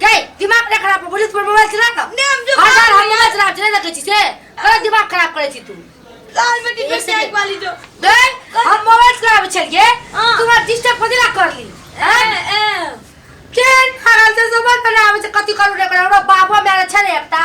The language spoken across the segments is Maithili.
गई दिमाग ना खराब पुलिस पर मोबाइल चला ना नहीं, हम जो- हजार हम मोबाइल चला चले देखे छी से अरे दिमाग खराब करे छी तू लाल बेटी एक पे सेकंड। टैग वाली जो गई हम मोबाइल चलाबे छलिए हाँ। तू हमरा डिस्टर्ब कथि ला करली ए, ए। केन हाल से सब बनाबे छै कथि करू रे ओकरा हमरा बाबा मेरे छै ने एकटा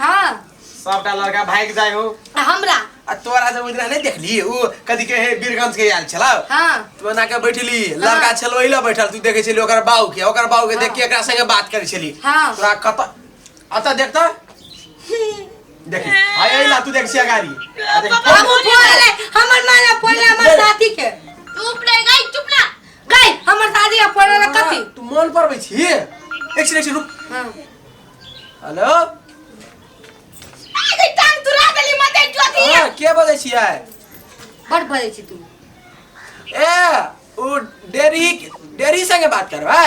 हाँ सबटा लड़का भागि जाइ हो आ हमरा आ तोरा से ओइदिना नहि देखली उ कथी के हे बीरगंज के आयल छला हाँ तू एना के बैठली लड़का छलो ओइला बैठल तू देखै छली ओकर बाऊ के ओकर बाऊ के देख के एकरा संगे बात करै छली हाँ। तोरा कत अत देख त देखी हाय अइला तू देख छिया गाड़ी आ देख, हम बोले हमर माला बोले हमर साथी के चुप रह गई चुप ना गई हमर दादी अब पड़े ला कथी तू मन पर बैठ ही एक से एक से रुक हाँ। हेलो अरे टांग तुरा देली मते जोती हां के बोलै छियै बड़ बजे छी तू ए ओ डेरी डेरी संगे बात करबै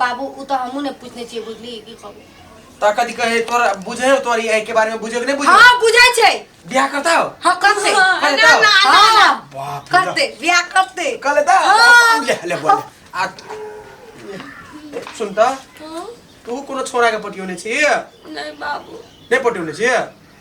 बाबू उ तो हमू ने पूछने छी बुझली की कहबो ता कथी कहे तोरा बुझे हो तोरी आई के बारे में बुझे के नहीं बुझे हां बुझै छै बियाह करता हो हां कर दे हाँ, अरे ना, तो- ना, ना, हाँ, ना। बाप रे कर बाप। दे बियाह कर दे कर लेता हाँ। ले ले बोल आ सुनता तू कोनो छोरा के पटियोने छी नहीं बाबू नहीं पटियोने छी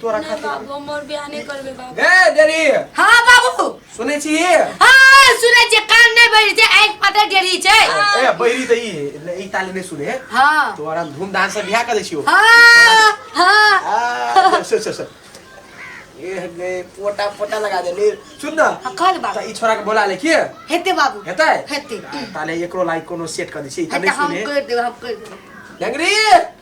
तोरा ना खातिर बाबू हम और बियाह नहीं करबे बाबू ए डेरी हाँ बाबू सुनै छी ए हाँ सुनै छियै कान नहि भरि छै आँखि पता डेरी छै बहिरी त ई ई ताली नै सुने हाँ तोरा धूमधाम से बियाह कर दै छियो हाँ हाँ आ, सुन सुन सुन ए गए पोटा पोटा लगा दे ले सुन ना हाँ, कह दे बाबू त ई छोरा के बोला ले के हेतै बाबू हेतै हेतै ताले एकरो लाइक कोनो सेट कर दै छी ई त हेतै नै हम सुने करि देबै हम करि देबै डंगरी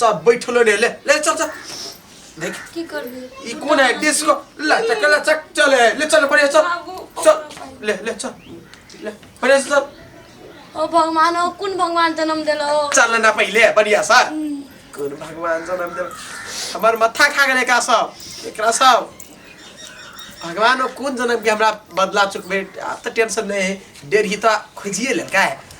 सब बैठल रे ले ले चल चल देख की करबे ई कोन है डिस्को ला चक ला चक चल है ले चल बढ़िया चल चल ले ले चल ले बढ़िया से चल ओ भगवान ओ कुन भगवान जन्म देलो चल ना पहिले बढ़िया सा कोन भगवान जन्म दे हमर माथा खा गेले का सब एकरा सब भगवान ओ कोन जन्म के हमरा बदला चुकबे आ त टेंशन नहीं है डेढ़ ही त खोजिए ले का है